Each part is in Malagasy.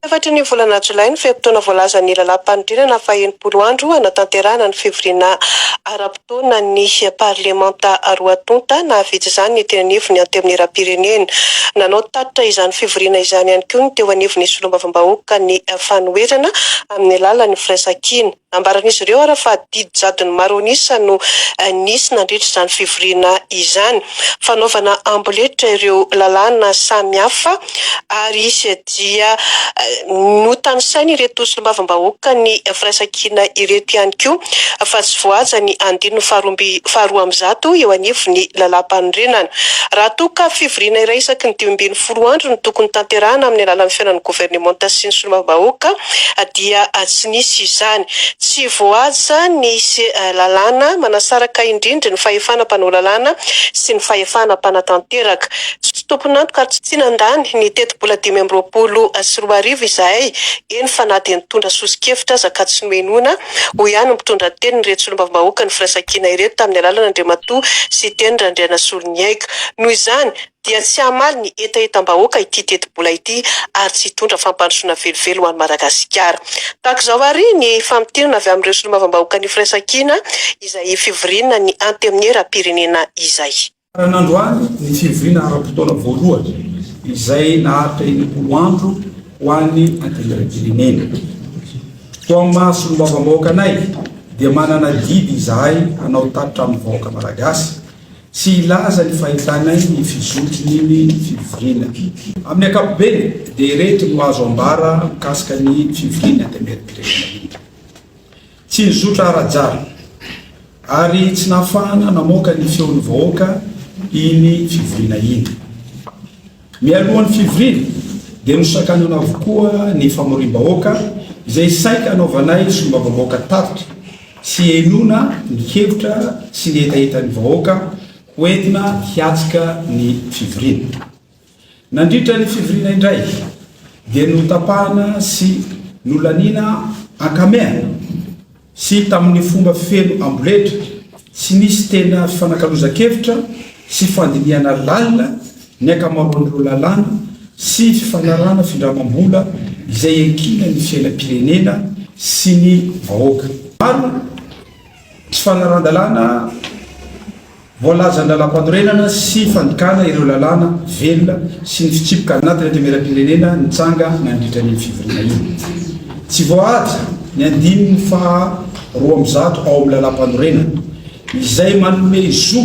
Tafatry ny volana jolay ny fe-potoana voalazan'ny lalàm-panorenana fahenimpolo andro hanatanterahana ny fivoriana ara-potoanan'ny parlemanta roa tonta nahavita izany ny teny anivon'ny Antenimierampirenena. Nanao tatitra izany fivoriana izany ihany koa ny teo anivon'ny solombavambahoaka ny fanoherana amin'ny alalan'ny firaisankina. Nambaran'izy ireo ary fa didy jadon'ny maro an'isa no nisy nandritra izany fivoriana izany. Fanaovana amboletra ireo lalàna samihafa ary izy dia notanisain' ireto solombavambahoaka ny firaisankina ireto ihany koa fa tsy voahaja ny andininy faharoa amby zato eo anivon'ny Lalàmpanorenana. Raha toa ka fivoriana iray isaky ny dimy ambin'ny Folo andro no tokony tanterahana amin'ny alalan'ny fihaonan'ny governemanta sy ny solombavambahoaka dia tsy nisy izany. Tsy voahaja ny lalàna manasaraka indrindra ny fahefana mpanao lalàna sy ny fahefana mpanatanteraka. Tsy tompon'antoka ary tsy tsinandany ny tetibola dimy amby roapolo sy roa arivo izahay, eny fa na dia nitondra sosokevitra aza ka tsy nohenoina, hoy ihany ny mpitondra tenin'ireto solombavambahoakan'ny firaisankina ireto tamin'ny alalan'Andriamatoa Siteny Randrianasoloniaiko. Noho izany, dia tsy hamaly ny hetahetam-bahoaka ity tetibola ity ary tsy hitondra fampandrosoana velively ho an'i Madagasikara. Tahaka izao àry ny famintinana avy amin'ireo solombavambahoakan'ny Firaisankina izay fivoriana ny Antenimieram-pirenena izay. Farany androany ny fivoriana ara-potoana voalohany izay naharitra enimpolo andro ho an'ny Antenimieram-pirenena. Toa amin'ny maha solombavambahoaka anay dia manana adidy izahay hanao tatitra amin'ny vahoaka Malagasy Tsy hilaza ny fahitanay ny fizotrn'iny fivoriana. Amin'ny ankapobeny dia ireto no azo ambara mikasika ny fivorian'ny Antenimieram-pirenena iny. Tsy nizotra ara-drjara ary tsy nahafahana namoaka ny feon'ny vahoaka iny fivoriana iny. Mialohan'ny fivoriana dia nosakanana avokoa ny famoriam-bahoaka izay saika hanaovanay solombavambahoaka tatitra sy henoina ny hevitra sy ny hetahetan'ny vahoaka ho entina hiatrika ny fivoriana. Nandritra ny fivoriana indray dia notapahana sy nolaniana ankamehana. sy tamin'ny fomba feno amboletra, tsy nisy tena fifanakalozan-kevitra sy fandinihana lalina ny ankamaroan'ireo lalàna sy fifanarahana findramam-bola izay iankinany ny fiainam-pirenena sy ny vahoaka. Maro ny tsy fanarahan-dalàna. Voalazan'ny Lalàmpanorenana sy fandikana ireo lalàna velona sy ny fitsipika anatin'ny Antenimierampirenena nitranga nandritra an'iny fivoriana iny. Tsy voahaja ny andininy faha roa amby zato ao amin'ny Lalàmpanorenana, izay manome zo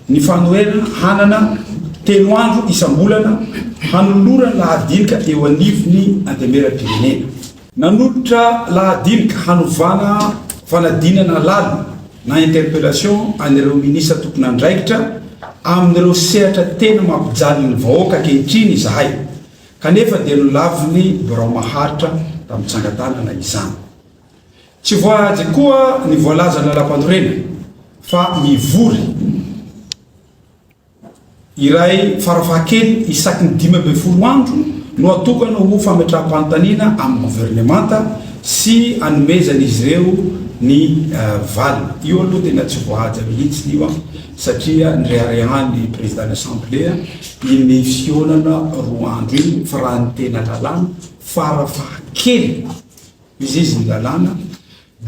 ny fanoherana hanana telo andro isam-bolana hanolorana lahadinika eo anivon'ny Antenimierampirenena. Nanolotra lahadinika hanovana fanadinana lalina na interpellation an'ireo minisitra tompon'andraikitra amin'ireo sehatra tena mampijaly ny vahoaka ankehitriny izahay, kanefa dia nolavin'ny Birao maharitra tamin'ny tsangan-tanana izany. Tsy voahaja koa ny voalazan'ny Lalampanorenana fa mivory. Iray farafahakeliny isaky ny dimy ambin'ny folo andro no atokana ho fametraham-panontaniana amin'ny governemanta sy anomezan'izy ireo ny valiny. Io aloha tena tsy voahaja mihitsy io an! satria nireharehan'ny Prezidàn'ny Asamblea iny fihaonana roa andro iny fa raha ny tena lalàna, farafahakeliny, Izy ny lalàna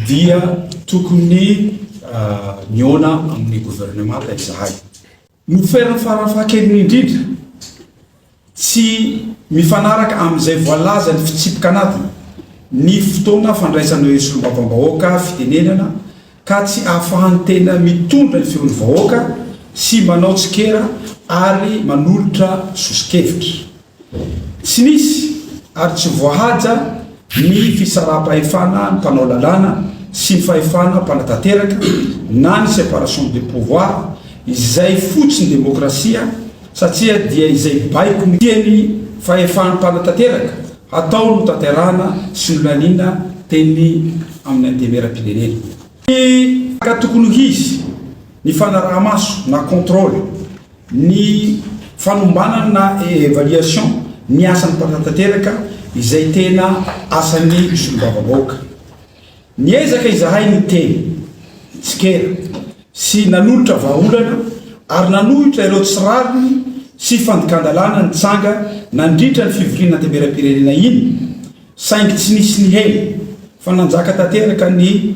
dia tokony mihaona amin'ny governemanta izahay. Ny toerana farafahakeliny indrindra, tsy mifanaraka amin'izay voalazan'ny fitsipi-kanadina, ny fotoana fandraisana ireo solombavambahoaka fitenenana ka tsy ahafahan'ny tena mitondra ny feon'ny vahoaka sy manao tsikera ary manolotra soso-kevitra. Tsy nisy ary tsy voahaja ny fisaraham-pahefana ny mpanao lalàna sy ny fahefana mpanatanteraka na ny separation des pouvoirs izay fotsiny demokrasia satria dia izay baiko ny tiany fahefana mpanatanteraka hatao no tanterahana sy nolaniana teny amin'ny antemeram-pirenena. Ka tokony ho hisy ny fanaraha-maso na contrôle Ny fanombanana na evaluation ny asan'ny mpanatanteraka izay tena asan'ny solombavambahoaka. Niezaka izahay niteny, nitsikera sy nanolotra vahaolana ary nanohitra ireo tsy rariny sy fandikan-dalàna nitsanga nandritra ny fivoriana anteberam-pirenena iny saingy tsy nisy nihena fa nanjaka tanteraka ny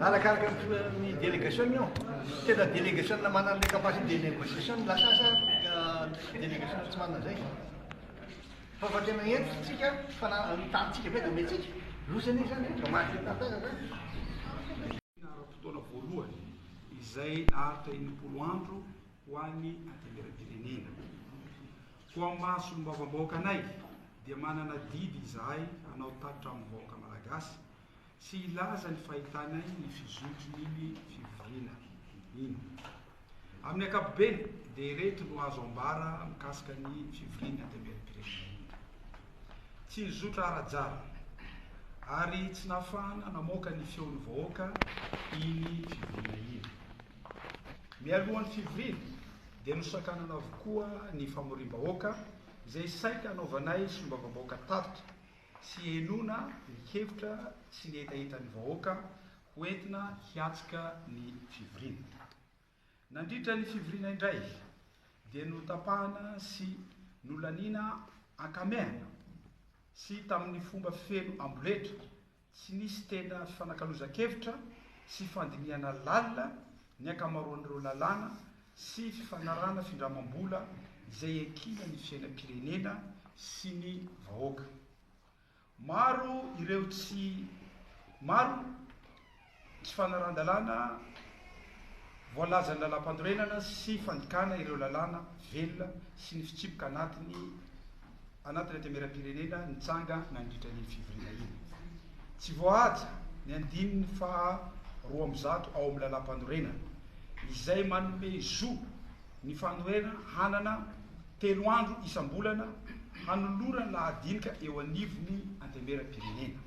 Arakaraka ny délégation io. Tena délégation manana an'ilay capacité de négociation ny lasa asa délégation tsy manana izay. Fa fa tena entintsika, fa na ny tanintsika be dia omentsika. Loza anie izany, vao maty tantara izany. Ny ara-potoana voalohany izay naharitra enimpolo andro. ho an'ny antenimieram-pirenena. Ho amin'ny maha solombavambahoaka anay dia manana adidy izahay hanao tatitra amin'ny vahoaka Malagasy sy hilaza ny fahitanay ny fizotry ny fivoriana iny. Amin'ny ankapobeny dia ireto no azo ambara mikasika ny fivorian'ny antenimieram-pirenena iny. Tsy nizotra ara-jara ary tsy nahafahana namoaka ny feon'ny vahoaka iny fivoriana iny. Mialohan'ny fivoriana dia nosakanana avokoa ny famoriam-bahoaka izay saika hanaovanay solombavambahoaka tatitra sy henoina ny hevitra sy ny hetahetan'ny vahoaka ho entina hiatrika ny fivoriana. Nandritra ny fivoriana indray dia notapahana sy nolaniana ankamehana sy tamin'ny fomba feno amboletra Tsy nisy tena fifanakalozan-kevitra sy fandinihana lalina ny ankamaroan'ireo lalàna sy fifanarahana findramam-bola izay ekena ny fiainam-pirenena sy ny vahoaka. Maro ireo tsy maro Tsy fanaran-dalàna voalazan'ny Lalàmpanorenana sy fandikana ireo lalàna velona sy ny fitsipika anatiny anatin'ny Antenimierampirenena nitsanga nandritra an'iny fivoriana iny. Tsy voahaja ny andininy faha roa amby zato ao amin'ny Lalàmpanorenana izay manome zo ny fanoherana hanana telo andro isam-bolana hanolorana lahadinika eo anivon'ny Antenimierampirenena.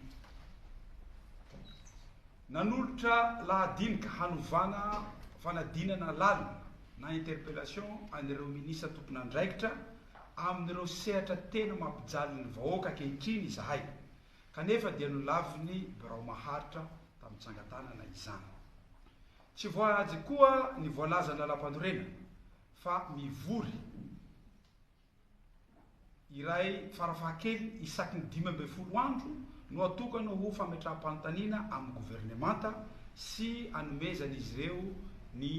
Nanolotra lahadinika hanovana fanadinana lalina na interpellation an'ireo minisitra tompon'andraikitra amin'ireo sehatra tena mampijaly ny vahoaka ankehitriny izahay, kanefa dia nolavin'ny Birao Maharitra tamin'ny tsangan-tanana izany. Tsy voahaja koa ny voalazan'ny Lalampanorenana fa mivory. iray farafaha-kely isaky ny dimy ambin'ny folo andro no atokana ho fametraham-panontaniana amin'ny governemanta sy anomezan'izy ireo ny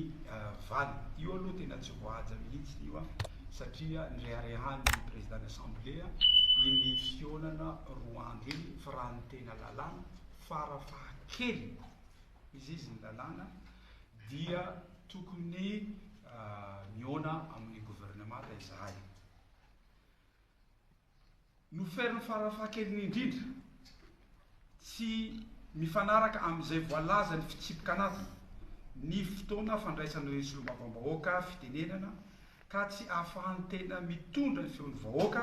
valiny. Io aloha tena tsy voahaja mihitsy io an, satria nireharehan'ny Président-n'ny Assemblée iny fihaonana roa andro iny fa raha ny tena lalàna farafaha-kely, izy ny lalàna dia tokony mihaona amin'ny governemanta izahay. Nous faire ny farafahakeliny indrindra tsy mifanaraka amin'izay voalazan'ny fitsipika anatiny ny fotoana fandraisana ireo solombavambahoaka fitenenana ka tsy ahafahan'ny tena mitondra ny feon'ny vahoaka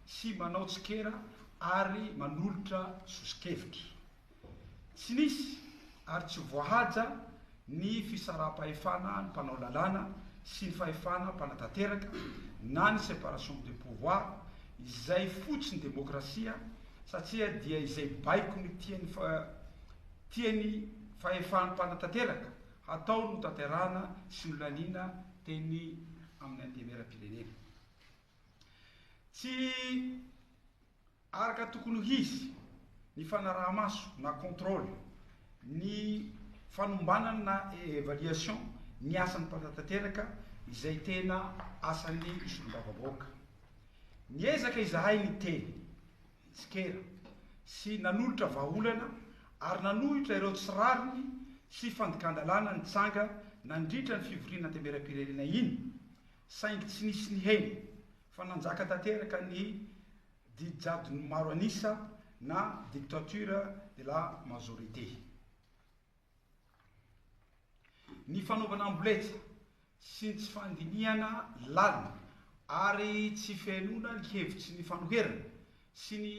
sy manao tsikera ary manolotra sosokevitra. Tsy nisy ary tsy voahaja ny fisaraham-pahefana ny mpanao lalàna sy ny fahefana mpanatanteraka na ny séparation des pouvoirs izay fotsiny demokrasia satria dia izay baikony tiany tiany fahefan'ny mpanatanteraka hatao no tanterahana sy nolaniana teny amin'ny antenimieram-pirenena. Tsy. Araka tokony ho izy, ny fanaraha-maso na contrôle, ny fanombanana na évaluation ny asan'ny mpanatateraka izay tena asan'ny solombavambahoaka. Niezaka izahay niteny, nitsikera sy nanolotra vahaolana ary nanohitra ireo tsy rariny sy fandikan-dalàna nitranga nandritra ny fivoriana antemeram-pirenena iny saingy tsy nisy nihena fa nanjaka tanteraka ny Didy jadon'ny maro an'isa na dictature de la majorité. Ny fanaovana amboletra sy ny tsy fandinihana lalina ary tsy fihenoana ny hevitry ny fanoherana sy ny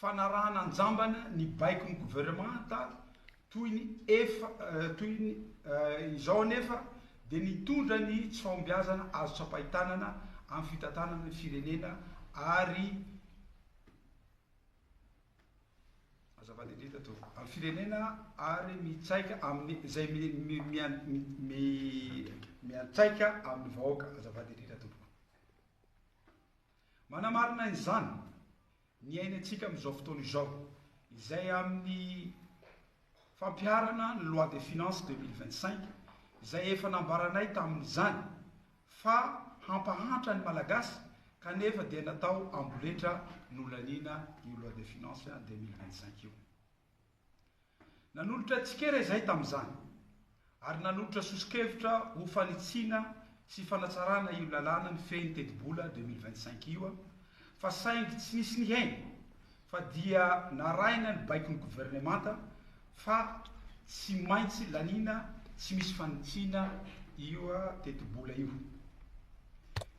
Fanarahana an-jambany ny baikon'ny governemanta toy ny efa toy ny izao anefa dia nitondra ny tsy fahombiazana azo tsapain-tanana amin'ny fitantanana ny firenena ary azafady indrindra to amin'ny firenena ary mitsaika amin'ny izay mi mi mian mi mi miantsaika amin'ny vahoaka azafady indrindra tompoko manamarina izany niainantsika amin'izao fotoana izao, izay amin'ny fampiharana ny Loi des finances deux mille vingt cinq, izay efa nambaranay tamin'izany fa hampahantra ny Malagasy kanefa dia natao amboletra nolaniana io Loi des finances deux mille vingt cinq io. Nanolotra tsikera izahay tamin'izany, ary nanolotra soso-kevitra ho fanitsiana sy fanatsarana io lalàna mifehy ny tetibola deux mille vingt-cinq io aho, fa saingy tsy nisy nihaino, fa dia narahina ny baikon'ny governemanta fa tsy maintsy laniana tsy misy fanitsiana io tetibola io.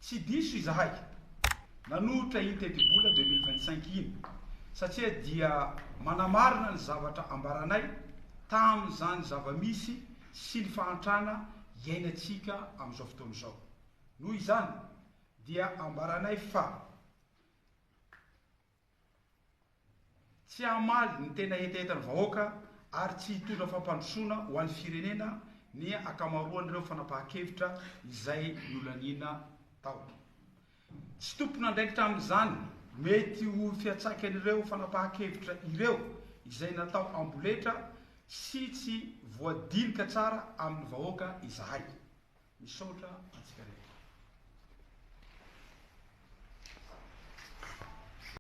Tsy diso izahay nanohitra iny tetibola deux mille vingt cinq iny satria dia manamarina ny zavatra ambaranay tamin'izany zava-misy sy ny fahantrana iainantsika amin'izao fotoana izao. Noho izany dia ambaranay fa. Tsy hamaly ny tena hetahetan'ny vahoaka ary tsy hitondra fampandrosoana ho an'ny firenena ny ankamaroan'ireo fanapahan-kevitra izay nolaniana tao. Tsy tompon'andraikitra amin'izany mety ho fiantsaikan'ireo fanapahan-kevitra ireo izay natao amboletra sy tsy voadinika tsara amin'ny vahoaka izahay. Misaotra antsika rehetra.